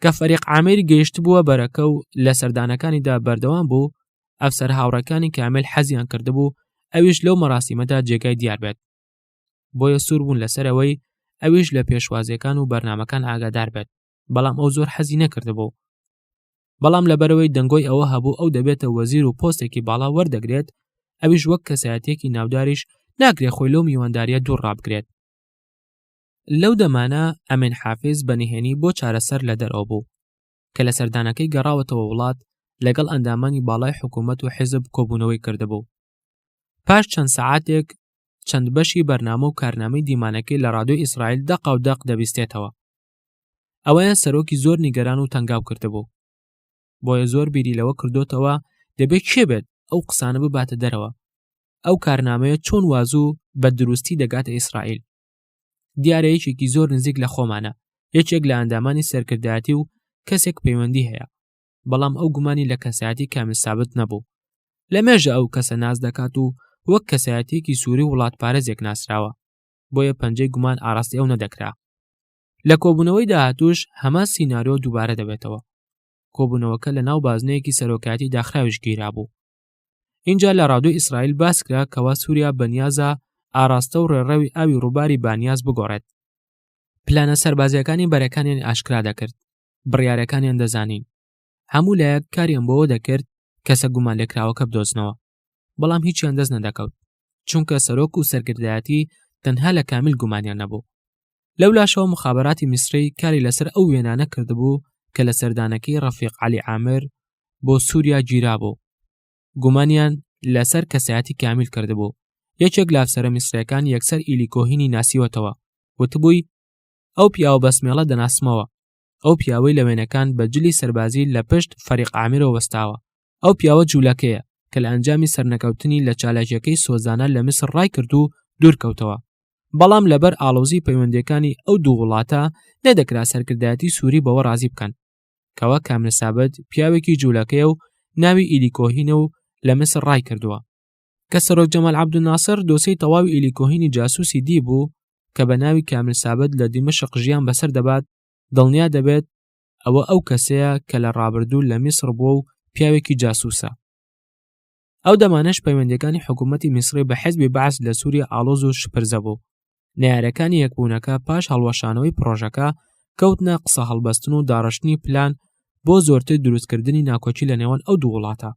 کە فەریق عامری گەیشتبووە بەرەکە و لە سەردانەکانیدا بەردەوام بوو ئەفسەر هاوڕەکانی کامل حەزیان کردبوو ئەویش لەو مەراسیمەدا جێگای دیار بێت بۆیە سوور بوون لەسەرەوەی ئەویش لە پێشوازیەکان و بەرنمەکان ئاگادار بێت بەڵام ئەو زۆر حەزی نەکردبوو بەڵام لەبەرەوەی دەنگۆی ئەوە هەبوو ئەو دەبێتە وەزیر و پۆستێکی باڵا وەردەگرێت ئەویش وەک کەسایەتێکی ناوداریش ناکرێت خۆی لەو میوانداریە دوور ڕابگرێت لەو دەمانە ئەمین حافز بە نهێنی بۆ چارەسەر لە دەرەوە بوو کە لە سەردانەکەی گەڕاوەتەوە وڵات لەگەڵ ئەندامانی باڵای حکوومەت و حیزب کۆبوونەوەی کردبوو پاش چەند سەعاتێک چەند بەشی بەرنامە و کارنامەی دیمانەکەی لە ڕادۆی ئیسرائیل دەقا و دەق دەبیستێتەوە ئەوەیان سەرۆکی زۆر نیگەران و تەنگاو کردبوو بۆیە زۆر بیری لەوە کردوتەوە دەبێت کێ بێت ئەو قسانە بباتە دەرەوە ئەو کارنامەیە چۆن وازوو بە دروستی دەگاتە ئیسرائیل دیارە یەکێکی زۆر نزیک لە خۆمانە یەکێک لە ئەندامانی سەرکردایەتی و کەسێک پەیوەندی هەیە بەڵام ئەو گومانی لە کەسایەتی کامل سابت نەبوو لە مێژە ئەو کەسە ناز دەکات و وەک کەسایەتێکی سووری وڵات پارێزێک ناسراوە بۆیە پەنجەی گومان ئاراستی ئەو نەدەکرا لە کۆبوونەوەی داهاتوش هەمان سینناریۆ دووبارە دەبێتەوە کۆبوونەوەکە لە ناو بازنەیەکی سەرۆکاتی داخراویش گیرا بوو اینجا لە ڕادوی ئیسرائیل باسکرا کەوا سووریا بەنیازە ئاراستە و ڕێڕەوی ئاوی ڕووباری بانیاز بگۆڕێت پلانە سەربازیەکانی بەرەکانیان ئاشکرا دەکرد بڕیارەکانیان دەزانین هەموو لایەک کاریان بەوە دەکرد کەسە گومان لێکراوەکە بدۆزنەوە بەڵام هیچیان دەست نەدەکەوت چونکە سەرۆک و سەرگردایەتی تەنها لە کامیل گومانیان نەبوو لەولاشەوە مخابراتی میسری کاری لەسەر ئەو وێنانە کردبوو کە لە سەردانەکەی ڕەفیق علی عامر بۆ سووریا گیرابوو گومانیان لەسەر کەسایەتی کامیل کردبوو یەکێک لافسەرە میسرەکان یەکسەر ئیلیکۆهینی ناسیوەتەوە وتبووی ئەو پیاوە بەسمێڵە دەناسمەوە ئەو پیاوەی لە وێنەکان بە جلی سەربازی لە پشت فەریق ئامرۆ وەستاوە ئەو پیاوە جوولەکەیە کە لە ئەنجامی سەرنەکەوتنی لە چالاکیەکەی سۆزانە لە میسر ڕایکرد و دوورکەوتەوە بەڵام لەبەر ئاڵۆزی پەیوەندەکانی ئەو دوو وڵاتە نەدەکرا سەرکردایەتی سووری بەوە ڕازی بکەن کەوا کامرسابەت پیاوێکی جوولەکەیە و ناوی ئیلیکۆهینە و لە میسر ڕای کردووە کە سەرۆک جەمال عەبدولناسر دۆسەی تەواوی ئیلی کۆهینی جاسوسی دی بوو کە بە ناوی کامل سابت لە دیمەشق ژیان بەسەر دەبات دڵنیا دەبێت ئەوە ئەو کەسەیە کە لە ڕابردوو لە میسر بووە و پیاوێکی جاسوسە ئەو دەمانەش پەیوەندەکانی حکوومەتی میسری بە حزبی بەعس لە سووری ئالۆز و شپرزە بوو نارەکانی یەکبوونەکە پاش هەڵوەشانەوەی پرۆژەکە کەوتنە قسە هەڵبەستن و داڕشتنی پلان بۆ زۆرتر دروستکردنی ناکۆکی لە نێوان ئەو دوو وڵاتە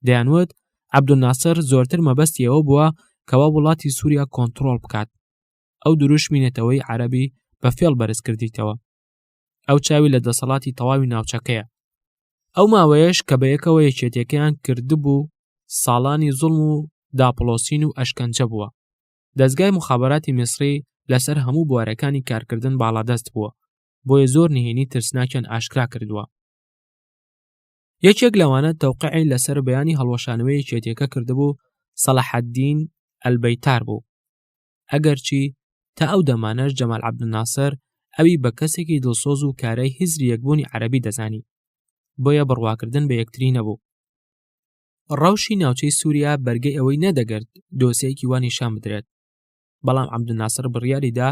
دەیانوت عەبدولناسر زۆرتر مەبەستی ئەوە بووە کەوا وڵاتی سووریا کۆنتترۆڵ بکات ئەو دروشمی نەتەوەی عەربی بە فێڵ بەرز کردیتەوە ئەو چاوی لە دەسەڵاتی تەواوی ناوچەکەیە ئەو ماوەیەش کە بە یەکەوە یەکێتەکەیان کردبوو ساڵانی زوڵم و داپڵۆسین و ئەشکەنجە بووە دەستگای مخابراتی میسری لەسەر هەموو بوارەکانی کارکردن باڵادەست بووە بۆیە زۆر نهێنی ترسناکیان ئاشکرا کردووە یەکێک لەوانە تەوقعی لەسەر بەیانی هەڵوەشانەوەی یەکێتیەکە کردبوو سەڵحەدین ئەلبەیتار بوو ئەگەرچی تا ئەو دەمانەش جەمال عبدناسر ئەوی بە کەسێکی دڵسۆز و کارای هزری یەکبوونی عەربی دەزانی بۆیە بڕواکردن بە یەکتری نەبوو ڕەوشی ناوچەی سووریا بەرگەی ئەوەی نەدەگرت دۆسەیەکی وانی شان بدرێت بەڵام عبدناسر بڕیاریدا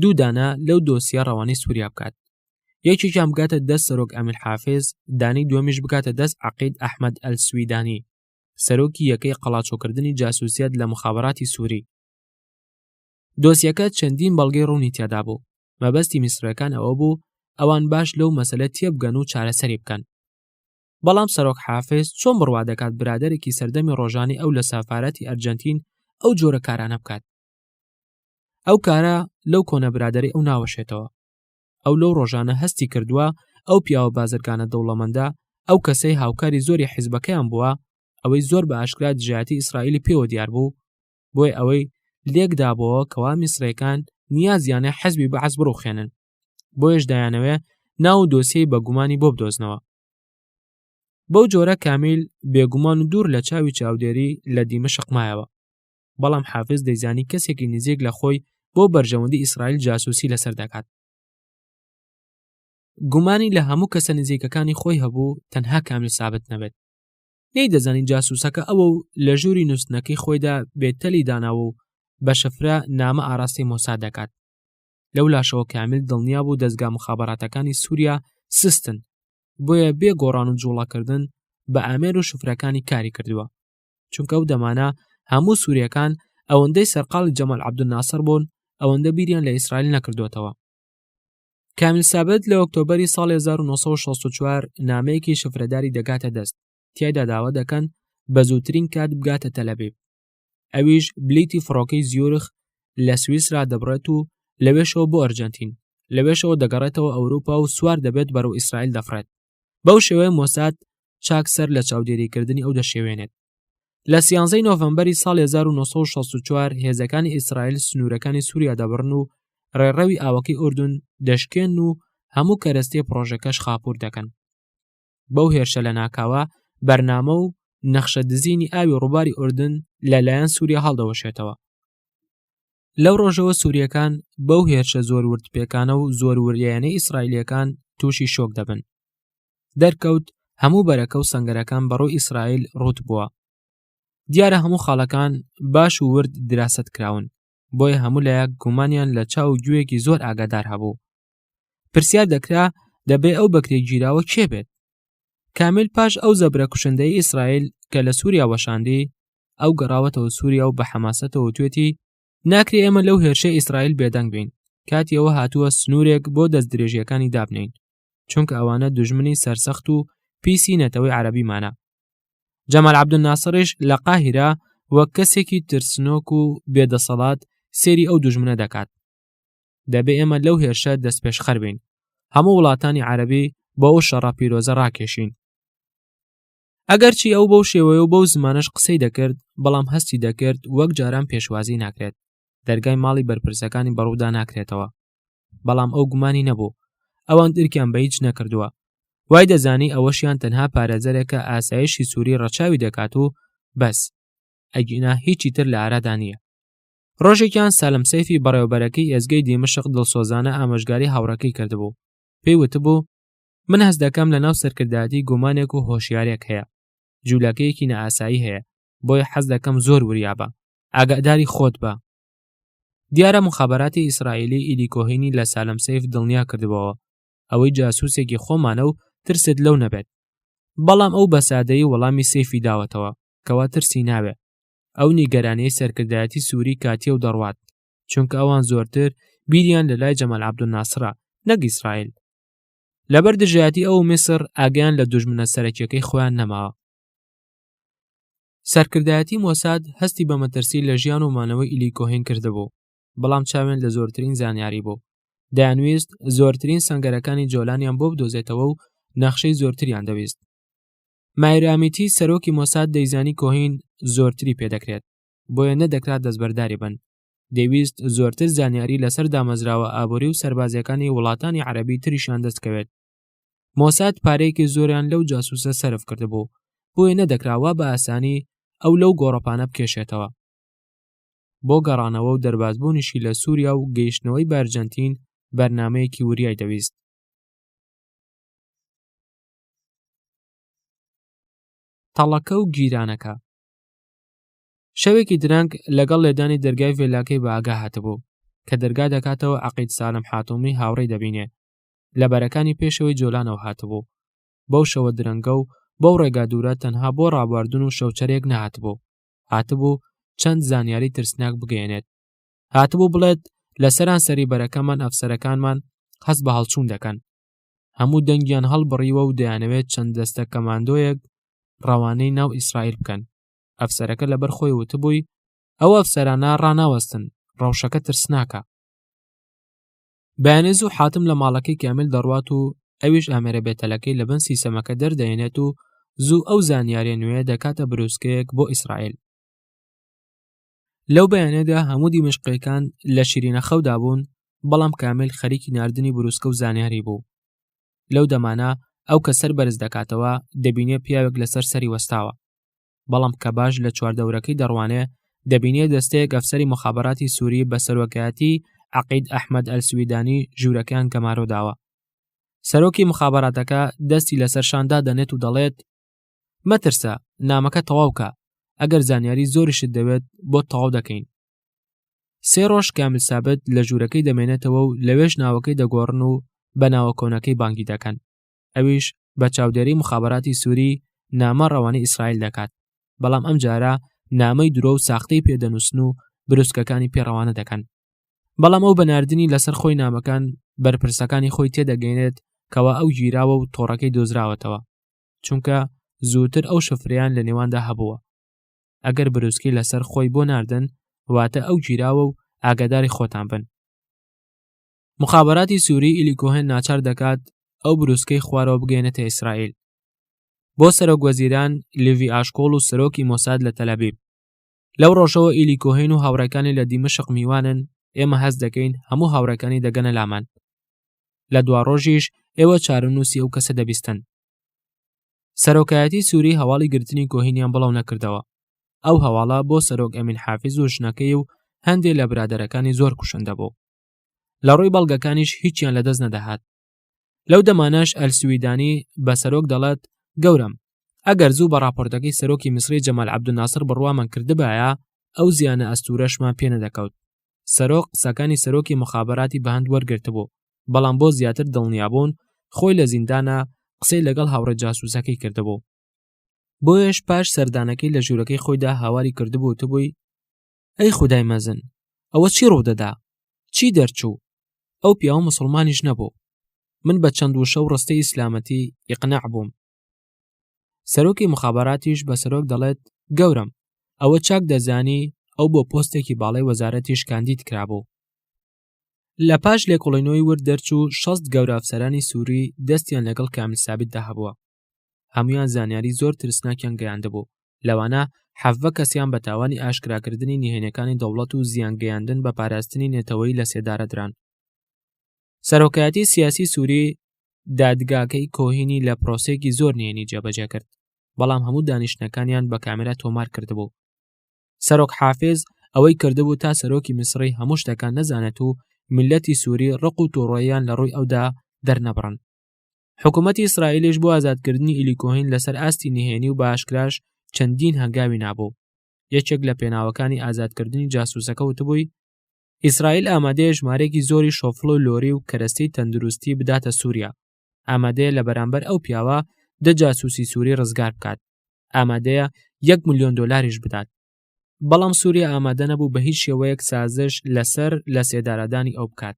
دوو دانە لەو دۆسیە ڕەوانەی سووریا بکات یەکێکیان بگاتە دەست سەرۆک ئەمیر حافز دانی دومیش بکاتە دەست عقید ئەحمد ئەل سویدانی سەرۆکی یەکەی قەڵاچۆکردنی جاسوسیەت لە مخابراتی سووری دۆسیەکە چەندین بەڵگەی ڕوونی تێدا بوو مەبەستی میسرەکان ئەوە بوو ئەوان باش لەو مەسلە تێبگەن و چارەسەری بکەن بەڵام سەرۆک حافز چۆن بڕوا دەکات برادێکی سەردەمی ڕۆژانی ئەو لە سافارەتی ئەرجەنتین ئەو جۆرە کارانە بکات ئەو کارە لەو کۆنە برادری ئەو ناوەشێتەوە ئەو لەو ڕۆژانە هەستی کردووە ئەو پیاوە بازرگانە دەوڵەمەندە ئەو کەسەی هاوکاری زۆری حیزبەکەیان بووە ئەوەی زۆر بە ئاشکرا دژایەتی ئیسرائیلی پێوە دیار بوو بۆی ئەوەی لێکدابەوە کەوا میسرەکان نیازیانە حەزبی بەعس بڕوخێنن بۆیش دایانەوێ ناو و دۆسیەی بەگومانی بۆ بدۆزنەوە بەو جۆرە کامیل بێگومان و دوور لە چاوی چاودێری لە دیمە شقمایەوە بەڵام حافز دەیزانی کەسێکی نزیک لە خۆی بۆ بەرژەوەندی ئیسرائیل جاسوسی لەسەر دەکات گومانی لە هەموو کەسە نزیکەکانی خۆی هەبوو تەنها کامیل سابت نەبێت نەی دەزانین جاسوسەکە ئەوە و لە ژووری نووسنەکەی خۆیدا بێتەلی داناوە و بە شەفرە نامە ئاراستی مۆسا دەکات لەو لاشەوە کامیل دڵنیا بوو دەستگا مخاباتەکانی سووریا سستن بۆیە بێ گۆڕان و جوڵەکردن بە ئامێر و شفرەکانی کاری کردووە چونکە ئەو دەمانە هەموو سووریەکان ئەوەندەی سەرقاڵی جەمەل عبدناسر بوون ئەوەندە بیریان لە ئیسرائیل نەکردوێتەوە کامیل سابت لە ئۆکتۆبری ساڵی 1964 نامەیەکی شفرەداری دەگاتە دەست تیایدا داوا دەکەن بە زووترین کات بگاتە تەلەبیب ئەویش بلیتی فڕۆکەی زیورخ لە سویسرا دەبڕێت و لەوێشەوە بۆ ئەرجەنتین لەوێشەوە دەگەڕێتەوە ئەوروپا و سوار دەبێت بەرەو ئیسرائیل دەفڕێت بەو شێوەیە مۆساد چاک سەر لە چاودێریکردنی ئەو دەشێوێنێت لە سیانزەی نۆڤمبەری ساڵ 1964 هێزەکانی ئیسرائیل سنوورەکانی سووریا دەبڕن و ڕێڕەوی ئاوەکەی ئوردون دەشکێن و هەموو کەرەستەی پڕۆژەکەش خاپور دەکەن بەو هێرشە لە ناکاوە بەرنامە و نەخشە دزینی ئاوی ڕووباری ئوردن لەلایەن سووریا هەڵدەوەشێتەوە لەو ڕۆژەوە سووریەکان بەو هێرشە زۆر ورد پێکانە و زۆر وریانە ئیسرائیلەکان تووشی شۆک دەبن دەرکەوت هەموو بەرەکە و سنگەرەکان بەڕۆ ئیسرائیل ڕوت بووە دیارە هەموو خاڵەکان باش و ورد دراست کراون بۆیە هەموو لایەک گومانیان لە چاو گوێیەکی زۆر ئاگادار هەبوو پرسیار دەکرا دەبێ ئەو بەکرێ گیراوە کێ بێت کامیل پاش ئەو زەبرە کوشندەی ئیسرائیل کە لە سووریا وەشاندی ئەو گەڕاوەتەوە سووریا و بە حەماسەتەوە توێتی ناکرێ ئێمە لەو هێرشە ئیسرائیل بێدەنگ بین کاتیەوە هاتووە سنوورێک بۆ دەست درێژیەکانی دابنین چونکە ئەوانە دژمنی سەرسەخت و پیسی نەتەوەی عەربیمانە جەمال عبدون ناسڕیش لە قاهرە وەک کەسێکی ترسنۆک و بێدەسەڵات سێری ئەو دژمنە دەکات دەبێ ئێمە لەو هێرشە دەستپێشخەر بین هەموو وڵاتانی عەربی بۆ ئەو شەڕە پیرۆزە ڕاکێشین ئەگەرچی ئەو بەو شێوەیە و بەو زمانش قسەی دەکرد بەڵام هەستی دەکرد وەک جاران پێشوازی ناکرێت دەرگای ماڵی بەرپرسەکانی بەڕوودا ناکرێتەوە بەڵام ئەو گومانی نەبوو ئەوان درکیان بە هیچ نەکردووە وای دەزانی ئەوەشیان تەنها پارێزەرێکە ئاسایشی سووری ڕەچاوی دەکات و بەس ئەگینا هیچی تر لە ئارادا نییە ڕۆژێکیان سالم سەیفی بەڕێوبەرەکەی ئێزگەی دیمەشق دڵسۆزانە ئامۆژگاری هاوڕەکەی کردبوو پێی وتبوو من هەست دەکەم لە ناو سەرکردایەتی گومانێک و هۆشیارێک هەیە جوولەکەیەکی نەئاسایی هەیە بۆیە حەز دەکەم زۆر وریابە ئاگاداری خۆت بە دیارە مخابراتی ئیسرائیلی ئیدیکۆهینی لە سالم سیف دڵنیا کردبەوە ئەوەی جاسوسێکی خۆمانە و ترست لەو نەبێت بەڵام ئەو بەسادەی وەڵامی سیفی داوەتەوە کەوا ترسی ناوێ ئەو نیگەرانەی سەرکردایەتی سووری کاتیە و دەڕوات چونکە ئەوان زۆرتر بیریان لە لای جەمال عبدناسرا نەک ئیسرائیل لەبەر دژایەتی ئەو میسر ئاگیان لە دوژمنە سەرەکیەکەی خۆیان نەماوە سەرکردایەتی مۆساد هەستی بە مەترسی لە ژیان و مانەوەی ئیلی کۆهین کردبوو بەڵام چاوێن لە زۆرترین زانیاری بوو دەیانویست زۆرترین سنگەرەکانی جۆلانیان بۆ بدۆزێتەوە و نەخشەی زۆرتریان دەویست مایرامیتی سەرۆکی مۆساد دەیزانی کۆهین زۆرتری پێدەکرێت بۆیە نەدەکرات دەستبەرداری بن دەویست زۆرتر زانیاری لەسەر دامەزراوە ئابووری و سربازەکانی وڵاتانی عەربی تریشان دەستکەوێت مۆساد پارەیەکی زۆریان لەو جاسوسە سرف کردبوو بۆیە نەدەکراوە بە ئاسانی ئەو لەو گۆڕەپانە بکێشێتەوە بۆ گەڕانەوە و دەربازبوونیشی لە سووریا و گەیشتنەوەی بارجەنتین بەرنمەیەکی وریای دەویست تەڵەکە و گیرانەکە شەوێکی درەنگ لەگەڵ لێدانی دەرگای ڤێلاکەی بە ئاگا هاتبوو کە دەرگا دەکاتەوە عقید سالم حاتومی هاوڕێی دەبینێ لە بەرەکانی پێشەوەی جۆلانەوە هاتبوو بەو شەوە درەنگە و بەو ڕێگا دوورە تەنها بۆ ڕابواردن و شەوچەرێک نهاتبوو هاتبوو چەند زانیاری ترسناک بگەێنێت هاتبوو بڵێت لە سەرانسەری بەرەکەمان ئەفسەرەکانمان هەست بە هەڵچوون دەکەن هەموو دەنگیان هەڵبڕیوە و دەیانەوێت چەند دەستە کەماندۆیەک ڕەوانەی ناو ئیسرائیل بکەن ئەفسەرەکە لەبەر خۆی وتبووی ئەو ئەفسەرانە ڕناوەستن ڕەوشەکە ترسناکە بەیانێز و حاتم لە ماڵەکەی کامیل دەڕوات و ئەویش ئامێرە بێتەلەکەی لە بن سیسەمەکە دەردەێنێت و زوو ئەو زانیارە نوێ دەکاتە بروسکەیەک بۆ ئیسرائیل لەو بەیانەدا هەموو دیمەشقیەکان لە شیرینە خەودا بوون بەڵام کامل خەریکی نردنی بروسکە و زانیاری بوو لەو دەمانە ئەو کە سەر بەرز دەکاتەوە دەبینێ پیاوێک لەسەر سەری وەستاوە بەڵام کە باش لە چواردەورەکەی دەڕوانێ دەبینێ دەستەیەک ئەفسەری مخابراتی سووری بە سەرۆکایەتی عقید ئەحمد ئەلسویدانی ژوورەکەیان گەمارۆداوە سەرۆکی مخاباتەکە دەستی لەسەر شاندا دەنێت و دەڵێت مەترسە نامەکە تەواوکە ئەگەر زانیاری زۆریشت دەوێت بۆ تەواو دەکەین سێ ڕۆژ کامل سابت لە ژوورەکەی دەمێنێتەوە و لەوێش ناوەکەی دەگۆڕن و بە ناوە کۆنەکەی بانگی دەکەن ئەویش بە چاودێری مخابراتی سووری نامە ڕەوانی ئیسرائیل دەکات بەڵام ئەم جارە نامەی درۆ و ساختەی پێدەنووسن و بروسکەکانی پێڕەوانە دەکەن بەڵام ئەو بەناردنی لەسەر خۆی نامەکان بەرپرسەکانی خۆی تێدەگەینێت کەوا ئەو گیراوە و تۆڕەکەی دۆزراوەتەوە چونکە زووتر ئەو شفریان لە نێواندا هەبووە ئەگەر بروسکی لەسەر خۆی بۆ ناردن واتە ئەو گیراوە و ئاگاداری خۆتان بن مخابراتی سووری ئیلی کۆهێن ناچار دەکات ئەو بروسکەی خوارەوە بگەێنێتە ئیسرائیل بۆ سەرۆک وەزیران لیڤی ئاشکۆڵ و سەرۆکی مۆساد لە تەلەبیب لەو ڕۆژەوە ئیلی کۆهین و هاوڕەکانی لە دیمەشق میوانن ئێمە هەست دەکەین هەموو هاوڕەکانی دەگەنە لامان لە دوا ڕۆژیش ئێوە چارەنووسی ئەو کەسە دەبیستن سەرۆکایەتی سووری هەواڵی گرتنی کۆهینیان بڵاو نەکردەوە ئەو هەواڵە بۆ سەرۆک ئەمین حافز و ژنەکەی و هەندێک لە برادەرەکانی زۆر کوشندە بوو لە ڕووی بەڵگەکانیش هیچیان لەدەست نەدەهات لەو دەمانەش ئەلسویدانی بە سەرۆک دەڵێت گەورەم ئەگەر زوو بە راپۆرتەکەی سەرۆکی میسری جەمال عبدناسر بڕوامان کردبایە ئەو زیانە ئەستورەشمان پێ نەدەکەوت سەرۆک قسەکانی سەرۆکی مخابراتی بەهند وەرگرتبوو بەڵام بۆ زیاتر دڵنیابوون خۆی لە زیندانە قسەی لەگەڵ هاوڕێ جاسوسەکەی کردبوو بۆیەش پاش سەردانەکەی لە ژوورەکەی خۆیدا هاواری کردبوو تبووی ئەی خودای مەزن ئەوە چی ڕوودەدا چی دەرچوو ئەو پیاوە مسلمانیش نەبوو من بە چەند وشە و ڕستەی ئیسلامەتی ئیقنع بووم سەرۆکی مخاباتیش بە سەرۆک دەڵێت گەورم ئەوە چاک دەزانی ئەو بۆ پۆستێکی باڵی وەزارەتیش کاندید کرابوو لە پاش لێکۆڵینەوەی ورد دەرچوو شەست گەورە ئەفسەرانی سووری دەستیان لەگەڵ کامل سابتدا هەبووە هەمویان زانیاری زۆر ترسناکیان گەیاندبوو لەوانە حەڤە کەسیان بە تاوانی ئاشکراکردنی نهێنەکانی دەوڵەت و زیان گەیاندن بە پاراستنی نەتەوەی لە سێدارەدران سەرۆکایەتی سیاسی سووری دادگاکەی کۆهینی لە پرۆسێکی زۆر نێنی جێبەجێ کرد بەڵام هەموو دانیشتنەکانیان بە کامێرا تۆمار کردبوو سەرۆک حافز ئەوەی کردبوو تا سەرۆکی میسری هەموو شتەکان نەزانێت و میلەتی سووری ڕق و تۆڕۆیان لە ڕووی ئەودا دەرنەبڕن حکوومەتی ئیسرائیلیش بۆ ئازادکردنی ئیلی کۆهین لەسەر ئاستی نهێنی و باشکراش چەندین هەنگاوی نابوو یەکێک لە پێناوەکانی ئازادکردنی جاسوسەکە وتبووی ئیسرائیل ئامادەیە ژمارێکی زۆری شۆفڵ و لۆری و کەرەستەی تەندروستی بداتە سووریا ئامادەیە لە بەرامبەر ئەو پیاوە دە جاسوسی سووری ڕزگار بکات ئامادەیە یەک ملیۆن دلاریش بدات بەڵام سووریا ئامادە نەبوو بە هیچ شێوەیەک سازش لەسەر لە سێدارادانی ئەو بکات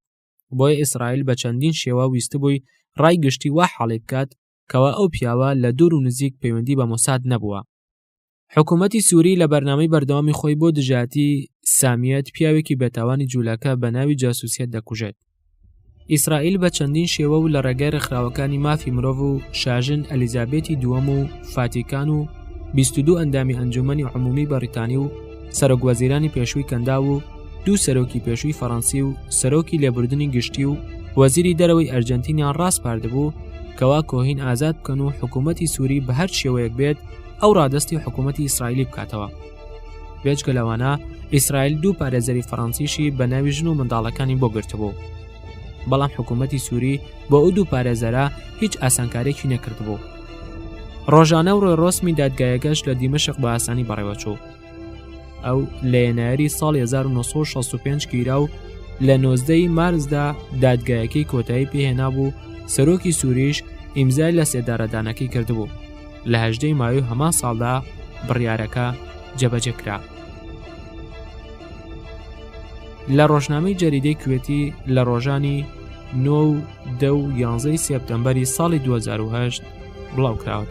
بۆیە ئیسرائیل بە چەندین شێوە ویستبووی ڕای گشتی وا حاڵی بکات کەوا ئەو پیاوە لە دوور و نزیک پەیوەندی بە مۆساد نەبووە حکوومەتی سووری لە بەرنامەی بەردەوامی خۆی بۆ دژاتی سامیەت پیاوێکی بێتاوانی جوولەکە بە ناوی جاسوسیەت دەکوژێت ئیسرائیل بە چەندین شێوە و لە ڕێگای ڕێکخراوەکانی مافی مرۆڤ و شاژن ئەلیزابێتی دووەم و فاتیکان و 22 ئەندامی ئەنجومی عمومی بەریتانی و سەرۆک وەزیرانی پێشووی کەنداو و دوو سەرۆکی پێشووی فەڕەنسی و سەرۆکی لێبوردنی گشتی و وەزیری دەرەوەی ئەرجەنتینیان ڕاسپاردبوو کەوا کۆهین ئازاد بکەن و حکوومەتتی سووری بە هەر شێوەیەک بێت ئەو ڕادستی حکوومەتتی ئیسرائیلی بکاتەوە بێچکە لەوانە ئیسرائیل دوو پارێزەری فەڕەنسیشی بە ناوی ژن و منداڵەکانی بۆ گرتبوو بەڵام حکوومەتتی سووری بۆ ئەو دوو پارێزەرە هیچ ئاسانکارێکی نەکردبوو ڕۆژانە و ڕۆێڕۆسمی دادگایەکەش لە دیمەشق بە ئاسانی بەڕێوەچوو ئەو لە ینایری ساڵ 1965 گیرا و لە نۆزدەی مارزدا دادگایەکەی کۆتایی پێهێنا بوو سەرۆکی سووریش ئیمزای لە سێدارەدانەکەی کردبوو لە هەژدەی ماوی هەمان ساڵدا بڕیارەکە جەبەجەکرا. لە ڕۆژنامەی جەریدەی کوێتی لە ڕۆژانی نۆ و دە و یانزەی سێپتەمبەری ساڵی 2010 بڵاوکراوە.